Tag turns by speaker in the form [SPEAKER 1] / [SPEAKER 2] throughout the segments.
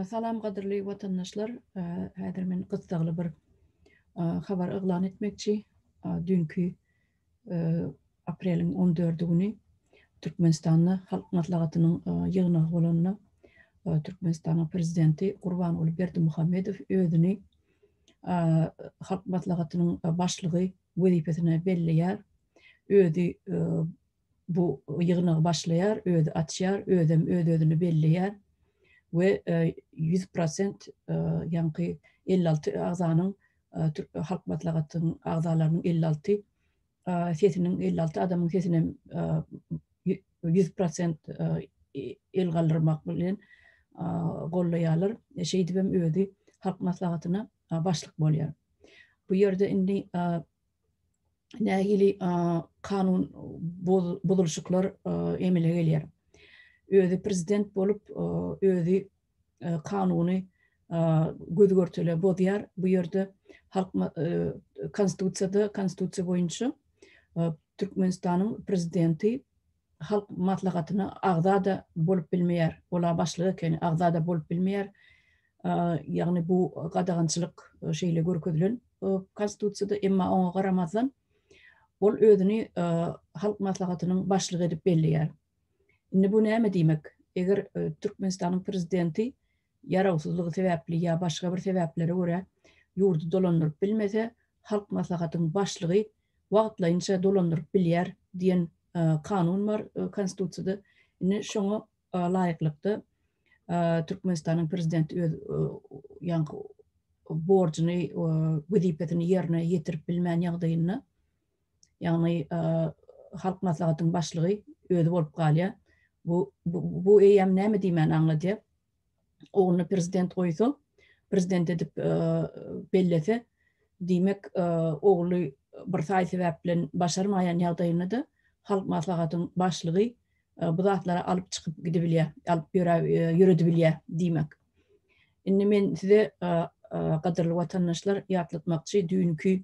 [SPEAKER 1] Salam gadyrly watandaşlar. Häzir men gyssagly bir habar yglan etmekçi. Dünkü apreliň on dördi güni Türkmenistanda Halk Maslahatynyň ýygnagy bolanda Türkmenistanyň Prezidenti Gurbanguly Berdimuhamedow özüni Halk Maslahatynyň Başlygy wezipesine belleýär. Özi bu ýygnagy başlaýar, özi açýar, özem öz-özüni belleýär we ýüz prosent ýaňky elli alty agzanyň Türk Halk Maslahatynyň agzalarynyň elli alty sesiniň, elli alty adamyň sesinem ýüz prosent el galdyrmak bilen gollaýarlar. Şeýdibem özi Halk Maslahatyna başlyk bolýar. Bu ýerde indi nähili kanun bozulşyklar emele gelýär. Özi prezident bolup, özi kanuny göz-görtele bozýar. Bu ýerde halk konstitusiýada, konstitusiýa boýunça Türkmenistanyň prezidenti Halk Maslahatyna agza-da bolup bilmeýär, ol-a başlyk ekeni, agza-da bolup bilmeýär. Ýagny bu gadagançylyk şeýle görkezilen Konstitusiýada, emma oňa garamazdan, ol özüni Halk Maslahatynyň başlygy edip belleýär. Indi bu näme diýmek? Eger Türkmenistanyň Prezidenti ýarawsyzlygy sebäpli ýa başga bir sebäplere görä ýurdy dolandyryp bilmese, Halk Maslahatyň Başlygy wagtlaýynça dolandyryp bilýär diýen kanun bar Konstitusiýada. Indi şoňa laýyklykda Türkmenistanyň Prezidenti öz ýaňky borjuny, wezipesini ýerine ýetirip bilmän ýagdaýynda ýagny Halk Maslahatynyň başlygy özi bolup galýar. Bu bu eýýäm näme diýmäni aňladýar. Ogluny prezident goýsa, prezident edip bellese, diýmek, ogly bir saý sebäp bilen başarmaýan ýagdaýynda-da Halk Maslahatynyň başlygy bu zatlary alyp çykyp gidibilýär, alyp ýöredibilýär diýmek. Indi men size gadyrly watandaşlar ýatlatmakçy, düýnki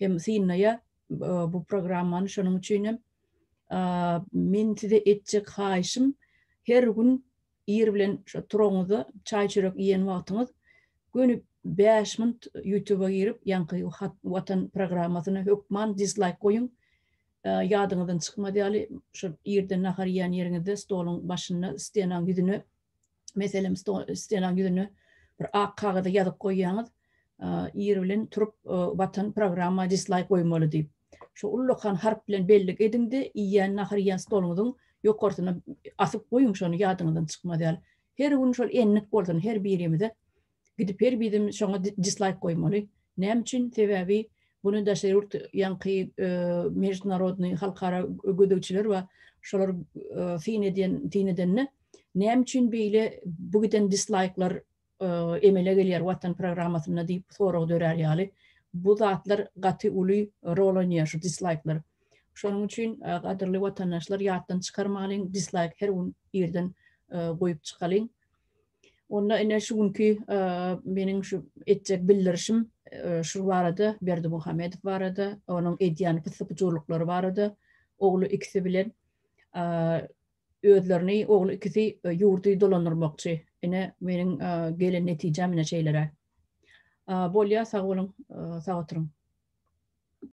[SPEAKER 1] hem synlaýar bu programmany şonuň üçin hem men size etjek haýyşym her gün ir bilen şo turaňyzda çaý çörek iýen wagtyňyz göni bäş minut ýutuba girip ýaňky watan programmasyna hökman dislaýk goýuň ýadyňyzdan çykmaz ýaly şo irden nahar iýen ýeriňizde stoluň başynda stenaň ýüzüne Meselem, stolaň ýüzüne bir ak kagyza ýazyp goýýaňyz, ir bilen turup Watan programma dislaýk goýmaly diýip. Şu ullakan harp bilen bellik ediňde, iýýän nahar iýýän stoluňyzyň ýokarsyna asyp goýuň şony ýadyňyzdan çykmaz ýaly. Her gün şol endik bolsun her birimize. Gidip her bizim şoňa dislaýk goýmaly. Näme üçin? Sebäbi bunu daşary ýurt ýaňky mejitnarodnyý halkara gözegçiler bar. Şolar syn edýän syn edende näme üçin beýle bu giden dislaýklar emele gelýär watan programmasynda diýip sorag dörär ýaly. Bu zatlar gaty uly rol oýnaýar şu dislaýklar. Şonuň üçin gadyrly watandaşlar ýatdan çykarmalyň dislaýk her gün irden goýup çykalyň. Onda ine şu günki meniň şu etjek bildirişim şu barada Berdimuhamedow barada, onuň edýän pyssy-pyjurlyklary barada, ogly ikisi bilen özlerini ogly ikisi ýurdy dolandyrmakçy. Ine meniň gelen netijäm ine şeýleräk. Bolýa sag boluň, sag oturyň.